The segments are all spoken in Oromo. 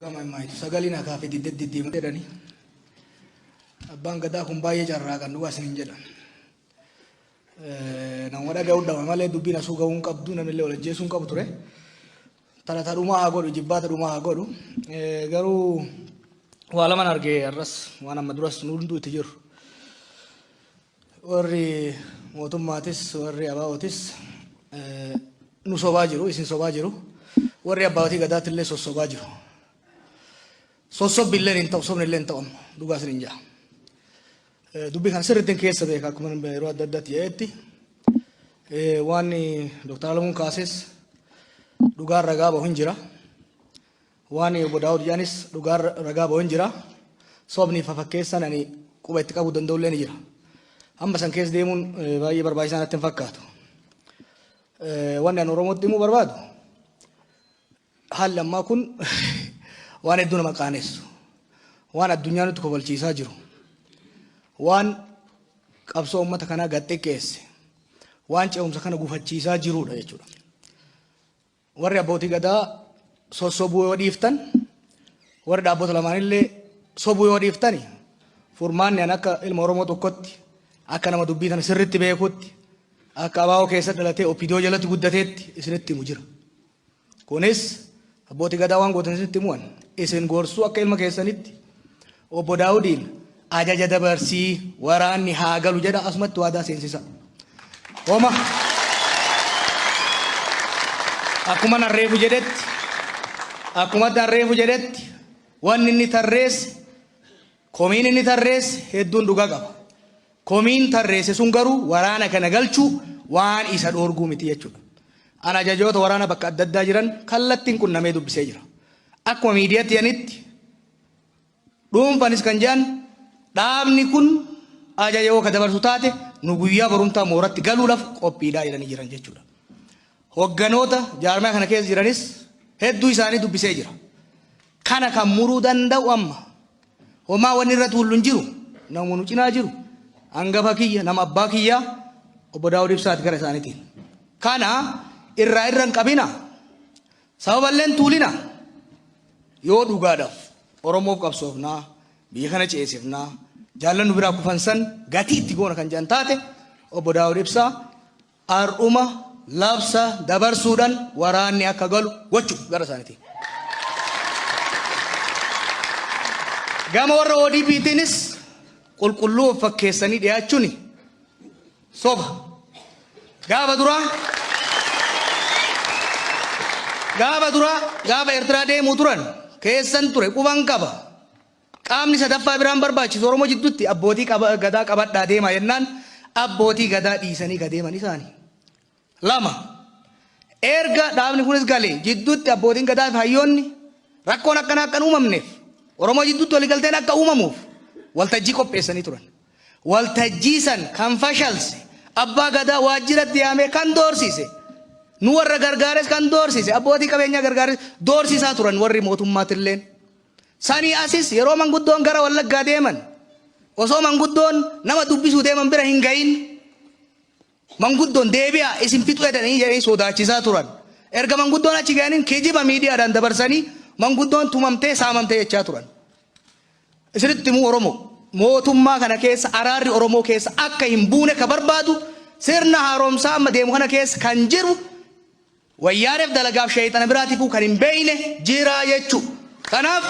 Gama imaayitu sagaliin hakaa fi diddeet diddeema jedhani. Abbaan gadaa kun baay'ee carraa kan dhugaa isiniin jedha. Nama dhaga'uu dhama malee dubbiin asuu ga'uu hin qabdu namnillee wal ajjeesuu hin qabu ture. Talata dhumaa haa godhu jibbaata dhumaa haa godhu. Garuu waa laman argee har'as waan amma duras nu hunduu itti jiru. Warri mootummaatis warri ABOtis nu sobaa jiru, isin sobaa jiru. Warri abbaatii gadaatti illee sossobaa jiru. Sossobbi illee hin ta'u, sobni illee hin ta'u amma dhugaa isin hin jaa. Dubbii kana sirriitti keessa beeka akkuma yeroo adda addaatti jedhetti waan Dr. Alamuun kaases dhugaan ragaa bahu hin jira. Waan Obbo Daawud jedhanis dhugaa ragaa bahu hin jira. Sobni fafakkeessan ani quba itti qabuu danda'u illee ni jira. Amma san keessa deemuun baay'ee barbaachisaa natti hin fakkaatu. Wanni ani Oromootti himuu barbaadu haalli ammaa kun waan hedduu nama qaanessu. Waan addunyaa nutti kofalchiisaa jiru. Waan qabsoo uummata kanaa gad xiqqeesse. Waan ce'umsa kana gufachiisaa jirudha jechuudha. Warri abbootii gadaa sossobuu yoo dhiiftan, warri dhaabbota lamaanillee sobuu yoo dhiiftani furmaanni an akka ilma Oromoo tokkotti akka nama dubbii tana sirritti beekutti akka abaa'oo keessa dhalatee opidiyoo jalatti guddateetti isinitti himu jira. Kunis abbootii gadaa waan gootan isinitti himuwan isin gorsuu akka ilma keessanitti Obbo Daawudiin ajaja dabarsii waraanni haa galu jedha asumatti waadaa seensisa. Homa akkuma nan reefu jedhetti akkuma nan reefu jedhetti wanni inni tarreesse komiin inni tarreesse hedduun dhugaa qaba. Komiin tarreesse sun garuu waraana kana galchuu waan isa dhoorguu miti jechuudha. An ajajoota waraana bakka adda addaa jiran kallattiin qunnamee dubbisee jira. Akkuma miidiyaatti yanitti Dhuunfanis kan jedhan dhaabni kun ajaja yoo ka dabarsu taate nu guyyaa barumtaa mooratti galuudhaf qophiidhaa jedhanii jiran jechuudha. Hogganoota jaarmaya kana keessa jiranis hedduu isaanii dubbisee jira. Kana kan muruu danda'u amma homaa wanni irratti hullu hin jiru namuma nu cinaa jiru hangafa kiyya nama abbaa kiyyaa obbo Daawud Ibsaati gara isaaniitiin. Kana irraa irra hin qabina Sababalleen Tuulina, Yoo dhugaadhaf Oromoof qabsoofna, biyya kana ceesifna, jaallan nu biraa kufan san gatii itti goona kan jedhan taate Obbo Daawud Ibsaa har'uma labsa dabarsuudhan waraanni akka galu gochuu gara isaanitiin. Gama warra ODPtiinis qulqulluu of fakkeessanii dhiyaachuni. Soba. Gaafa duraa Gaafa duraa gaafa Eertiraa deemuu turan keessan ture quban qaba. Qaamni sadaffaa biraan barbaachisu Oromoo jidduutti abbootii qaba- gadaa qabadhaa deemaa jennaan abbootii gadaa dhiisanii ka deeman isaani. 2. Erga dhaabni kunis galee jidduutti abbootiin gadaa fi hayyoonni rakkoon akkanaa akka hin uumamneef Oromoo jidduutti waliigalteen akka uumamuuf waltajjii qopheessanii turan. Waltajjii san kan fashalse abbaa gadaa waajjiratti yaamee kan doorsiise nu warra gargaares kan doorsiise abbootii qabeenyaa gargaares doorsisaa turan warri mootummaatilleen. Sanii asis yeroo manguddoon gara wallaggaa deeman osoo manguddoon nama dubbisuu deeman bira hin gahin Manguddon deebi'a isin fixu edanii jedhanii sodaachisaa turan. Erga manguddoon achi ga'aniin kijiba miidiyaadhaan dabarsanii manguddoon tumamtee saamamte jechaa turan. Isinitti himuu Oromoo mootummaa kana keessa araarri Oromoo keessa akka hin buune ka barbaadu sirna haaromsaa amma deemu kana keessa kan jiru Wayyaanef dalagaaf sheeyxana biraatifuu kan hin beeyne jira jechu. Kanaaf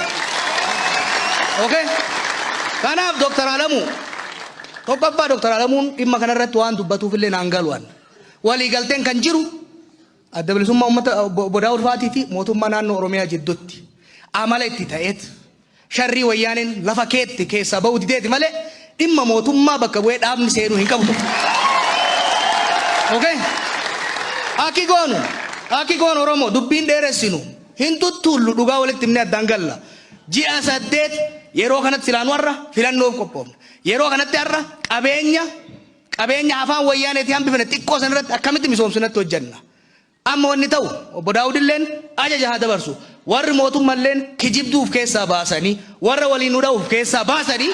ok kanaaf Dr. Alamuu tokkoffaa Dr. Alamuun dhimma kana irratti waan dubbatuuf illee naan galu an. Walii galteen kan jiru adda bilisummaa ummata obbo Daawud Faatii fi mootummaa naannoo Oromiyaa jiddutti amala itti ta'eet Sharrii wayyaaneen lafa keette keessaa ba'uu dideeti malee dhimma mootummaa bakka bu'ee dhaabni seenuu hin qabu ture. Okay? Aki goonu, aki goonu Oromoo dubbiin dheeressinu hin tuttuullu dhugaa walitti himnee addaan galla. Ji'a saddeet yeroo kanatti silaa nu har'a filannoof qophoofna. Yeroo kanatti har'a qabeenya qabeenya afaan wayyaaneetii hambifne xiqqoo san irratti akkamitti misoomsinatti hojjenna. Amma wanni ta'u, Obbo Daawudilleen ajaja haa dabarsu, warri mootummalleen kijibduu uf keessaa baasanii, warra waliin nu dha'u uf keessaa baasanii,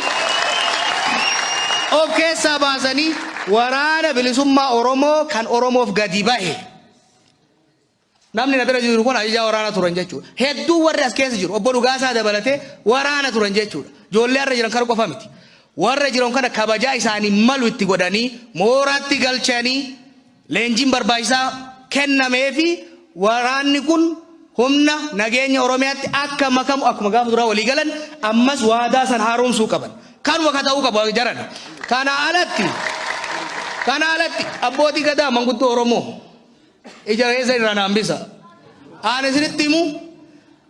of keessaa baasanii waraana bilisummaa Oromoo kan Oromoof gadi bahe, namni na bira jiru kun ajajaa waraanaa turan jechuudha. Hedduu warri as keessa jiru, Obbo Dhugaasaa dabalatee waraana turan jechuudha. Ijoollee har'a jiran kana qofa miti. Warra jiran kana kabajaa isaanii malu itti godhanii, mooraatti galchanii, Leenjiin barbaachisaa kennameefi waraanni kun humna nageenya Oromiyaatti akka makamu akkuma gaafa duraa walii galan ammas waadaa san haaromsuu qaban. Kanuma ka ta'uu qabu jaran. Kana alatti kana alatti abbootii gadaa manguddoo Oromoo ija keessa irraa naan bisa. Aan isinitti himu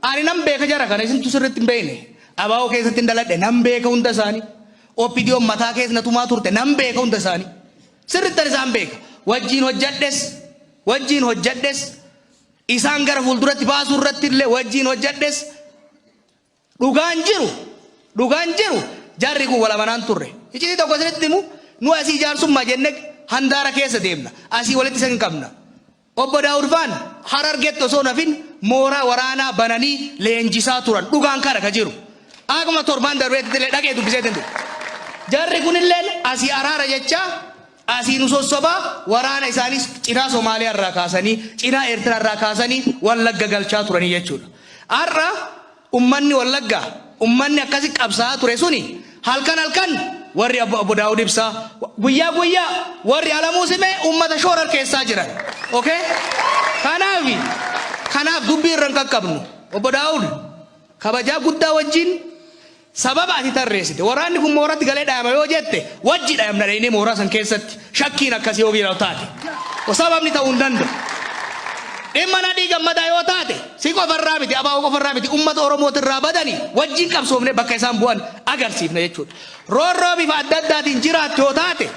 ani nan beeka jara kana isintu sirriitti hin beekne. Abaa'oo keessatti hin daladhe nan beeka hunda isaanii. Oppidiyoon mataa keessa na tumaa turte nan beeka hunda isaanii. Sirrittan isaan beeka. Wajjiin hojjadhes, wajjiin hojjadhes, isaan gara fuulduratti baasuu irratti illee wajjiin hojjadhes, dhugaan jiru, dhugaan jiru jarri kun wal amanaan turre. Iccitii tokko isinitti himu, nu asii jaarsummaa jennee handaara keessa deemna. Asii walitti isa hin qabna. Obbo Daawud Faan Harargetti osoo hin hafin mooraa waraanaa bananii leenjisaa turan. Dhugaan kana ka jiru. Akkuma torbaan darbeettillee dhaqee dubbiseetiin dhufe. Jarri kunilleen asii araara jechaa asii nu sossobaa waraana isaaniis cinaa Somaaliyaa irraa kaasanii, cinaa Eertiraa irraa kaasanii Wallagga galchaa turanii jechuudha. Har'a Ummanni Wallaggaa, ummanni akkasi qabsaa'aa ture suni halkan halkan warri Obbo Daawud Ibsaa, guyyaa guyyaa warri Alamuu Simee ummata shoorarkeessaa jiran. Ok? Kanaafi, kanaaf dubbii irra hin qaqqabnu. Obbo Daawud, kabajaa guddaa wajjin sababa ati tarreessite, waraanni kun mooratti galee dhayama yoo jette, wajji dhayamna dhaynee mooraa san keessatti. Shakkiin akkasii yoo giirau taate o sababni ta'uu hin danda'u. Dhimma Nadhii Gammadaa yoo taate si qofa irraa miti abaa'oo qofa irraa miti uummata Oromooti irraa badanii wajjin qabsoofne bakka isaan bu'an agarsiifna jechuudha. Roorroo bifa adda addaatiin jiraattu yoo taate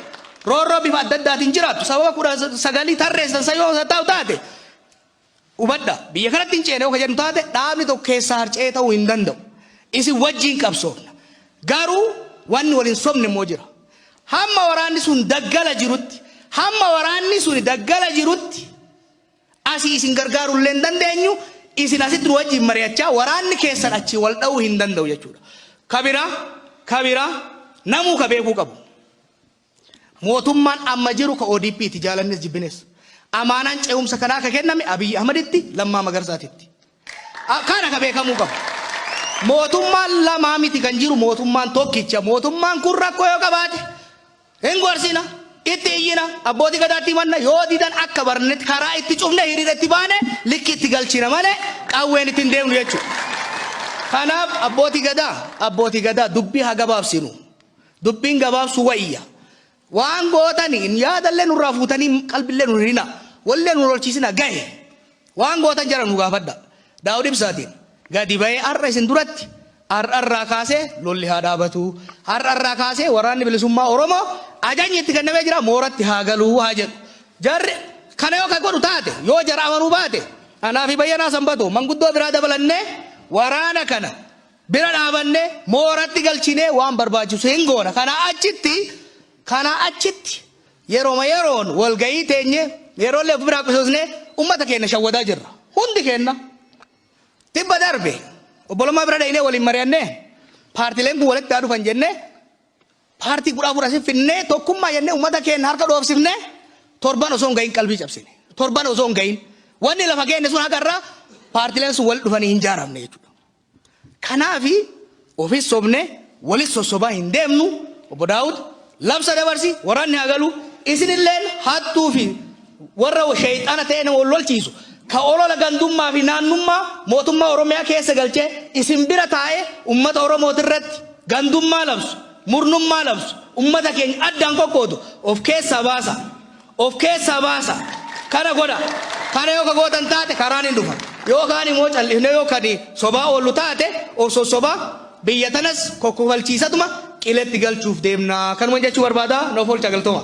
roorroo bifa adda addaatiin jiraattu sababa kudha sagalii tarreessan san yoo ta'u taate Hubadha, biyya kanatti hin ceena yoo ka jedhu taate, dhaabni tokko keessaa harca'ee ta'uu hin danda'u. Isin wajjiin qabsoofna. Garuu wanni wal hin sobne immoo jira. Hamma waraanni sun daggala jirutti, hamma waraanni suni daggala jirutti asii isin gargaaruu illee hin dandeenyu, isin asitti nu wajjiin mari'achaa waraanni keessan achii wal dha'uu hin danda'u jechuudha. Ka biraa, ka biraa namuu ka beekuu qabu. Mootummaan amma jiru ka ODP ti, jaalannes jibbines. Amaanaan ce'umsa kanaa ka kenname Abiy Ahmaditti, Lammaa Magarsaatitti. Kana ka beekamuu qabu. Mootummaan lama miti kan jiru, mootummaan tokkicha. Mootummaan kun rakkoo yoo qabaate hin gorsina, itti iyyina, Abbootii Gadaatti himanna, yoo didan akka barnetti karaa itti cufne hiriira itti baane likki itti galchina malee qawween itti hin deemnu jechuudha. Kanaaf Abbootii Gadaa, Abbootii Gadaa dubbii haa gabaabsinu. Dubbiin gabaabsuu wayya. Waan gootani yaadallee nurraa fuutanii qalbillee nu hirina. Wallee nu lolchiisina gahe. Waan gootan jara nu gaafadha. Daawud Ibsaatiin gadi bahee har'a isin duratti har'arraa kaasee lolli haa dhaabatu. Har'arraa kaasee waraanni bilisummaa Oromoo ajajni itti kennamee jira mooratti haa galuu haa jedhu. Jarri kana yoo kan godhu taate yoo jara amanuu baate anaa fi Bayyanaa Sanbatoo manguddoo biraa dabalannee waraana kana bira dhaabannee, mooratti galchinee waan barbaachisu hin goona. Kanaa achitti, kanaa achitti yeroma yeroon walgahii teenye, yeroollee of biraa qusoosnee ummata keenna shawwadaa jirra. Hundi keenna. Tibba darbe Obbo Lammaa bira dhaynee waliin mari'annee paartileen kun walitti haa dhufan jennee paartii kudha afur asif finnee tokkummaa jennee ummata keenna harka dhoofsifnee torban osoo hin gahin qalbii cabsine. Torban osoo hin gahin. Wanni lafa keenne sun haqa irraa paartileen sun walitti dhufanii hin jaaramne jechuudha. Kanaafi ofis sobnee walis sossobaa hin deemnu, Obbo Daawud, labsa dabarsi, waraanni haa galu, isinilleen hattuu fi warra sheyxaana ta'ee nama wal lolchiisu, ka olola gandummaa fi naannummaa mootummaa Oromiyaa keessa galchee isin bira taa'ee ummata Oromootirratti gandummaa labsu, murnummaa labsu, ummata keenya addaan qoqqoodu of keessaa baasaa. of keessaa baasa. Kana godha. Kana yoo ka gootan taate karaan hin dhufa. Yoo kaan immoo cal'ifnee yoo kadi sobaa oollu taate of sossobaa biyya tanas kokkofalchiisatuma qiletti galchuuf deemna. Kanuman jechuu barbaada. Noof oolcha galtooma.